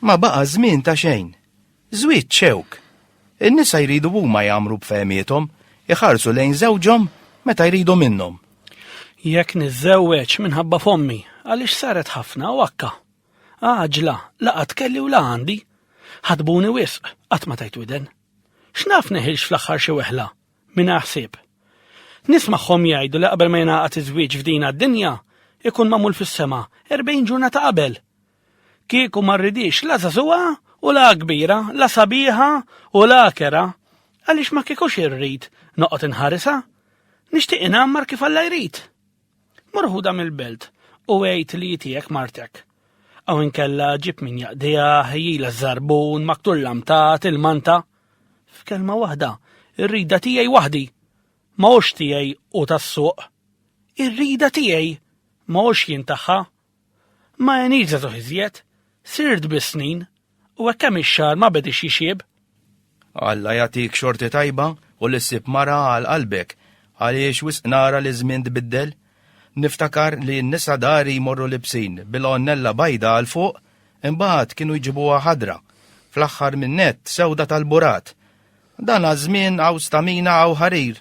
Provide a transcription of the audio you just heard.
Ma baqa żmien ta' xejn. Żwieġ xewk. In-nisa jridu huma jagħmru b'fehmiethom, iħarsu lejn żewġhom meta jridu minnhom. Jekk niżżewweġ minħabba fommi, għaliex saret ħafna u akka. Għaġla, la qatt kelli u la għandi. Ħadbuni wisq, qatt ma tajt widen. X'naf neħilx fl-aħħar xi weħla, mingħajr ħsieb. Nismagħhom jgħidu li qabel ma jingħaqad iż-żwieġ f'dina d-dinja, ikun magħmul fis-sema, erbgħin ġurnata qabel. Kieku ma rridix la żagħżugħa u la kbira, la sabiħa u la kera, għaliex ma kiekux irrid noqgħod inħarisha. Nixtieq inammar kif Alla jrid. Mur ħudha mill-belt u għid li hi tiegħek martek. Aw inkella ġib min jaqdiha, ħejjila ż-żarbun, maktul lamtat, il-manta. F'kelma waħda, ir-rida tiegħi waħdi. Ma hux tiegħi u tas-suq. Ir-rida tiegħi ma hux jien tagħha Ma għenitx żagħżugħ iżjed, sirt biss snin, u hekk kemm ix-xagħar ma bediex jixjieb. Alla jagħtik xorti tajba u li ssib mara għal qalbek, għaliex wisq nara li ż-żmien tbiddel. Niftakar li n-nisa dari jmorru libsin bil-għonnella bajda għal fuq, imbagħad kienu jġibuha ħadra, fl-aħħar min-nett sewda tal-burat. Dan għaż-żmien hawn stamina hawn ħarir.